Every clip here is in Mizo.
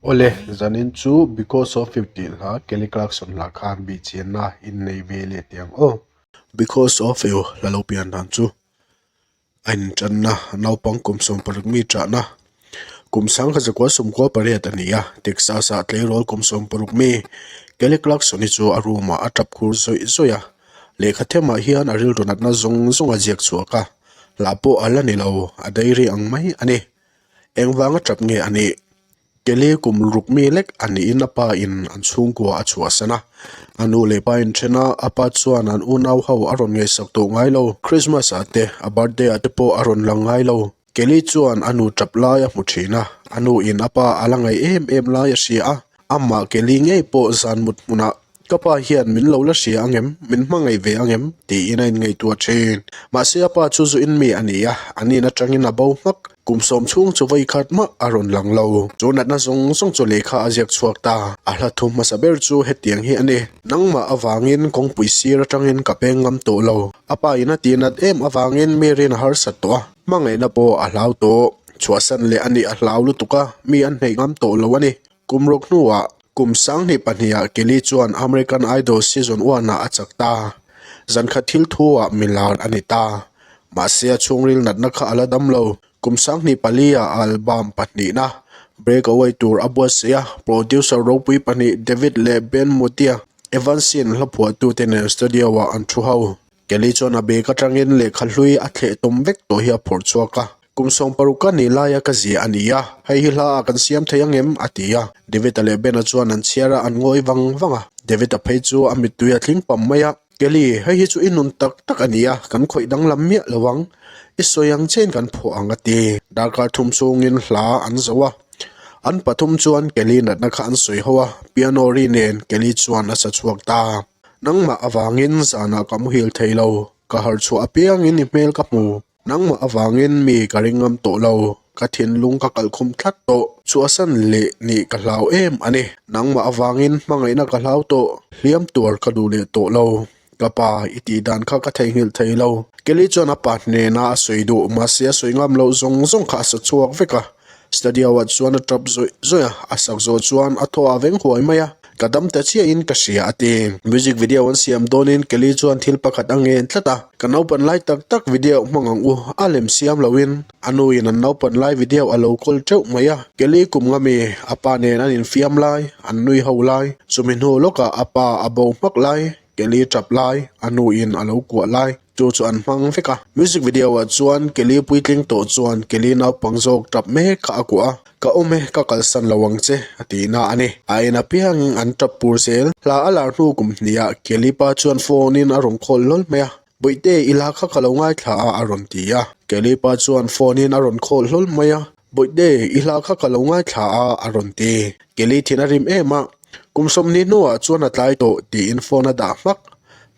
Awle, zanin chu because of you tih hla Kelly Clarkson hla khan biachianna innei ve leh tiang aw. Because of you hla lo pian dan chu a intanna naupang kum sawm paruk mi chahna kum sang kha zakua sawm kual pariat a ni a. Texas a tleirawl kum sawm paruk mi Kelly Clarkson hi chu a room ah a tap khur zawih zawih a, lehkha them ah hian a rilru natna zawng zawng a ziak chhuak a, hla pawh a la ni lo, a diary ang mai a ni. Engvanga tap nge a nih? Kelly kum ruk mi lek a niin a pa in an chhungkua a chhuahsan a. A nu leh pa in then a, a pa chuan an unau ho a rawn ngaihsak duh ngai lo. Krismas ah te, a birthday ah te pawh a rawn lang ngai lo. Kelly chuan a nu tap lai a hmu thin a, a nu in a pa a la ngaih em em lai a hria a. Amah ke li ngei pawh zan mut hmunah ka pa hian min lo la hria ang em, min hmangaih ve ang em? tiin a inngaihtu a ṭhin. Mahse a pa chu zu in mi a ni a, a nin aṭangin a bo hmak. Kum sawm chhung chu vawi khat mah a rawn lang lo. Chu natna zawng zawng chu lehkha a ziak chhuak ta. A hla thu hmasa ber chu hetiang hi a ni, Nangmah avangin kawngpui sir aṭangin ka peng ngam tawh lo. A pa in a tih nat em avangin Mary-in a harsat tawh a. Hmangaihna pawh a hlau tawh. Chhuahsan leh a nih a hlau lutuk a, mi an hneih ngam tawh lo a ni. Kum rawk hnuah kum sanghnih pahniha Kelly chuan American Idol Season One-ah a chak ta. Zan kha thil thu-ah milar a ni ta. Mahse a chhungril natna kha a la dam lo. Kum sanghnih pali-a album pahnihna breakaway tur a buatsaih a, producer ropui pahnih David leh Ben Motia, Evansin hlaphuahtu te nen studio-ah an thu ho. Kelly chuan a bag atangin lehkha hlui a thleh tum vek tawh hi a phawrh chhuak a. Kum sawm paruk ka nih laia ka zia a ni a, hei hi hla ah kan siam thei angem? a ti a. David-a leh Ben-a chuan an chhiar a, an ngawi vang vang a. David-a phei chu a mittui a tling pam mai a. Kelly, hei hi chu i nun tak tak a ni a, kan khawih danglam miah lo ang, i sawi ang che in kan phuah ang a ti. Darkar thum chungin hla an zoh a, an pathum chuan Kelly natna kha an sawi ho a, piano ri nen Kelly chuan a sa chhuak ta. Nangmah avangin zanah ka muhil thei lo, ka harchhuah apiangin i hmel ka hmu. Nangmah avangin mi ka ring ngam tawh lo, ka thinlung ka kalh khum tlat tawh. Chhuahsan leh nih ka hlau em a ni. Nangmah avangin hmangaihna ka hlau tawh, hliam tuar ka duh leh tawh lo. Ka pa, i tih dan kha ka theihnghilh thei lo. Kelly chuan a pa hnena a sawi duh, mahse a sawi ngam loh zawng zawng kha a sa chhuak vek a. Study hour chuan a tap zawih zawih a, a sak zawh chuan a thaw a veng huai mai a, ka dam ta chiah in ka hria a ti. Music video an siam dawn in Kelly chuan thil pakhat a ngen tlat a, ka naupan lai tak tak video hmang ang u a lem siam lo in a nu in an naupan lai video a lo call teuh mai a, Kelly kum nga mi a pa nen an in fiam lai, an nui ho lai, chumi hnu lawk ah a pa a bo hmak lai. Kelly tap lai a nu in a lo kuah lai chu chu an hmang vek a. Music video ah chuan Kelly puitling tawh chuan Kelly naupang zawk tap mek kha a kuah a, Ka awm e, ka kalsan lo ang che a ti na a ni. A en apiang in an tap pur zel. Hla a lar hnu kum hnih ah Kelly pa chuan phone in a rawn call lawlh mai a. Buihte, i la kha ka lo ngaithla a, a rawn ti a. Kelipa chuan phone-in a rawn call hlawl mai a. Buihte, i la kha ka lo ngaithla a, a rawn ti. Keli thin a rim em a. Kum sawmhnih hnuah chuan a tlai tawh tiin phone a dah hmak.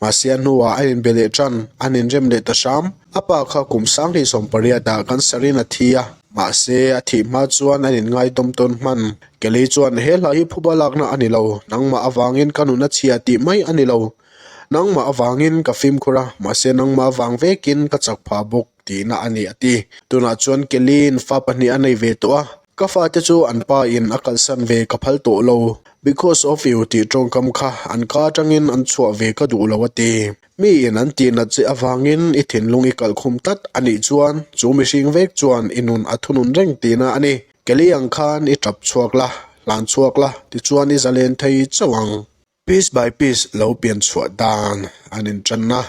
Mahse a hnuah a inbe leh tan, an inrem leh ta hram. A pa kha kum sanghnih sawmpariah dah kan sarhin a thi a. Mahse, a thih hma chuan an inngaidawm tawn hman. Keli chuan, He hla hi phuba lakna a ni lo, nangmah avangin ka nunachhia tih mai a ni lo. Nangmah avangin ka fimkhur a, mahse nangmah avang vekin ka chak phah bawk, tihna a ni, a ti. Tunah chuan Kelly-in fa pahnih a nei ve tawh a, ka fate chu an pa in a kalsan ve ka phal tawh lo, because of you tih tawngkam kha an ka atangin an chhuah ve ka duh lo, a ti. Mi in an tih nat che avangin i thinlung i kalh khum tlat a nih chuan chu mihring vek chuan i nun a thunun reng, tihna a ni. Kelly ang khan i tap chhuak la, hlan chhuak la tichuan i zalen thei chauh ang. Piece by piece lo pian chhuah dan an inṭan a,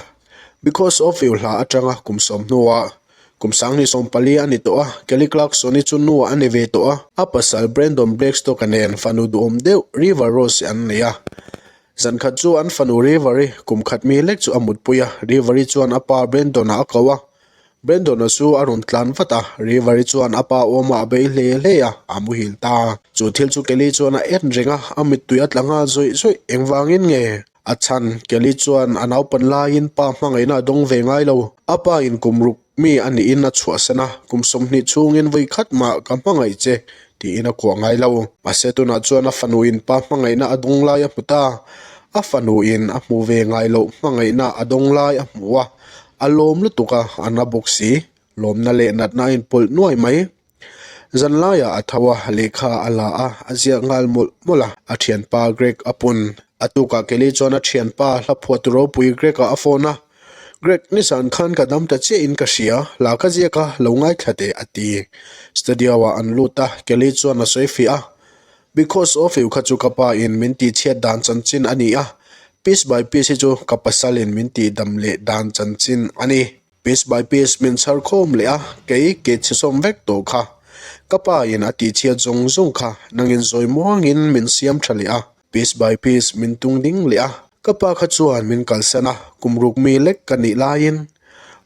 because of you hla aṭanga kum sawm hnua kum sangni sawm pali a ni tawh a, Kelly Clarkson-i chu nu a ni ve tawh a. A pasal Brandon Blackstock-a nen fanu duhawm deuh River Rose-i an nei a. Zan khat chu an fanu River-i kum khat mi lek chu a mutpui a, River-i chuan a pa Brandon-a a ko a, Brandon-a chu a rawn tlan vat a, River-i chuan a pa awmah a bei hle hle a, a muhil ta a. Chu thil chu Kelly chuan a en reng a, a mittui a tla nghal zawih zawih, engvangin nge? A chhan, Kelly chuan a naupan laiin pa hmangaihna a dawng ve ngai lo. A pa in kum ruk mi a niin a chhuahsan a, kum sawmhnih chhungin vawi khat mah ka hmangaih che tiin a kuah ngai lo. Mahse, tunah chuan a fanu in pa hmangaihna a dawng lai a hmu ta. A fanu in a hmu ve ngai loh hmangaihna a dawng lai a hmu a. a lawm lutuk a a na bawk si lawmna leh natna a inpawlh nuai mai zan laiah a tho a lehkha a la a a ziah nghal mawlh mawlh a a thianpa Greg a pun a tukah Kelly chuan a thianpa hla phuah tur ropui Greg ah a phone a Greg ni san khan ka dam ta chiah in ka hria hla ka ziak a lo ngaithla teh a ti studio ah an lut a Kelly chuan a sawi fiah a Because of you kha chu ka pa in min tih chhiat dan chanchin a ni a, piece by piece hi chu ka pasal in min tih dam leh dan chanchin a ni. Piece by piece min chhar khawm leh a, kei ke chhisawm vek tawh kha ka pa in a tih chhiat zawng zawng kha nang in zawi muang in min siam tha leh a, piece by piece min tung ding leh a, ka pa kha chuan min kalsan a, kum ruk mi lek ka nih lai in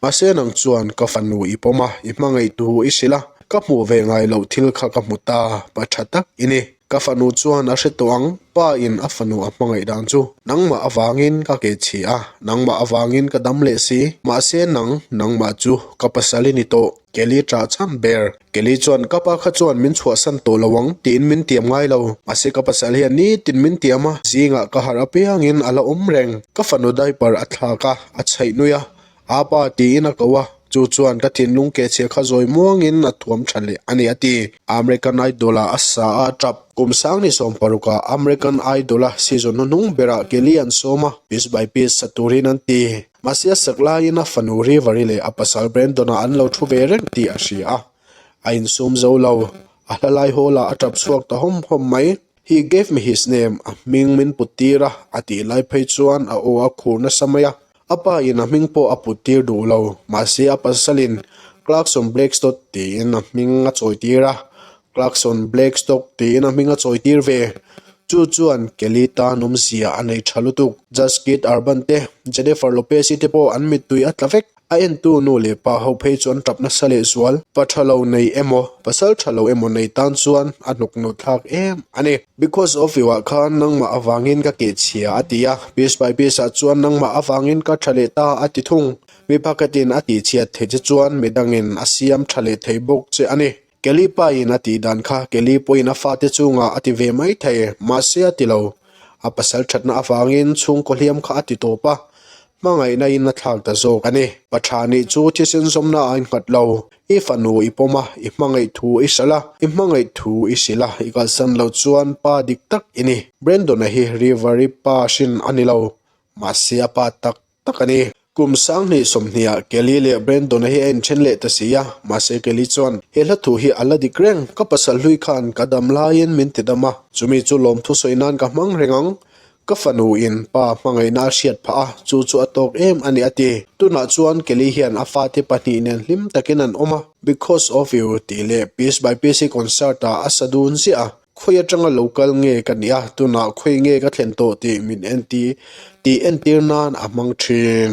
Mahse nang chuan ka fanu i pawm a, i hmangaihtu i si la, ka hmuh ve ngai loh thil kha ka hmu ta, pa tha tak i ni. Ka fanu chuan a hre tawh ang, pa in a fanu a hmangaih dan chu nangmah avangin ka ke chhi a, nangmah avangin ka dam leh si, mahse nang, nangmah chu ka pasal i ni tawh. Kelly chah cham ber. Kelly chuan, Ka pa kha chuan min chhuahsan tawh lo ang tiin min tiam ngai lo. Mahse ka pasal hian nitin min tiam a, zingah ka harh apiangin a la awm reng. Ka fanu diaper a thlak a, a chhaih nui a, Aa pa tiin a ko a, chu chuan ka thinlung ke chhia kha zawi muangin a thuam tha leh a ni, a ti. American Idol-ah a sa a, a tap. Kum Sangni sawm paruk-a American Idol-a season hnu hnung berah Kelly an sawm a, piece by piece sa turin an ti. Mahse, a sek laiin a fanu Rivari leh a pasal Brendona an lo thu ve reng tih a hria a. A insum zo lo. A hlalai hawla a tap chhuak ta hawm hawm mai. He gave me his name, a hming min puttir a, a tih lai phei chuan a aw a khur nasa mai a. A pain a hming pawh a puttir duh lo. Mahse, a pasalin, Clarkson Blackstodd tiin a hming a chawitir a. Clarkson Black Stock tiin a hming a chawi tir ve. Chu chuan Kelly tan awmzia a nei tha lutuk. Jazz Kid Urban te, Jennifer Lopez-i te pawh an mittui a tla vek. A entu nu leh pa ho phei chu an tap nasa leh zual. Pa tha lo nei emaw, pasal tha lo emaw nei tan chuan a hnuk nu thlak em a ni. Because of you-ah khan nangmah avangin ka keh chhia, a ti a. Piece by piece-ah chuan nangmah avangin ka tha leh ta a ti thung. Mi pakhatin a tihchhiat theih che chuan midangin a siam tha leh thei bawk che a ni. Kelly pa-in a tih dan kha Kelly pawhin a fate chungah a ti ve mai thei. Mahse a ti lo. A pasal thatna avangin chhungkaw hliam kha a ti tawp a, hmangaihnain a thlak ta zawk a ni. Ka tha nih chu thisen zawmna ain nghat lo. I fanu i pawm a, i hmangaih thu i hralh a, i hmangaih thu i sil a, i kalsan lo chuan pa dik tak i ni. Brendon-a hi River-i pa hrin a ni lo. Mahse a pa tak. tak a ni. Kum sang hnih sawmhniah Kelly leh Brandon-a hi a inthen leh ta si a, mahse Kelly chuan, He hla thu hi a la dik reng, ka pasal hlui khan ka dam laiin min ti dam a, chumi chu lawmthu sawi nan ka hmang reng ang, ka fanu in pa hmangaihna a hriat phah a, chu chu a tawk em a ni a ti. Tunah chuan Kelly hian a fate pahnih nen hlim takin an awm a, Because of You tih leh Piece by Piece hi concert-ah a sa dun ziah a, Khawi atanga lo kal nge ka nih a, tunah khawi nge ka thlen tawh tih min entir nan a hmang thin.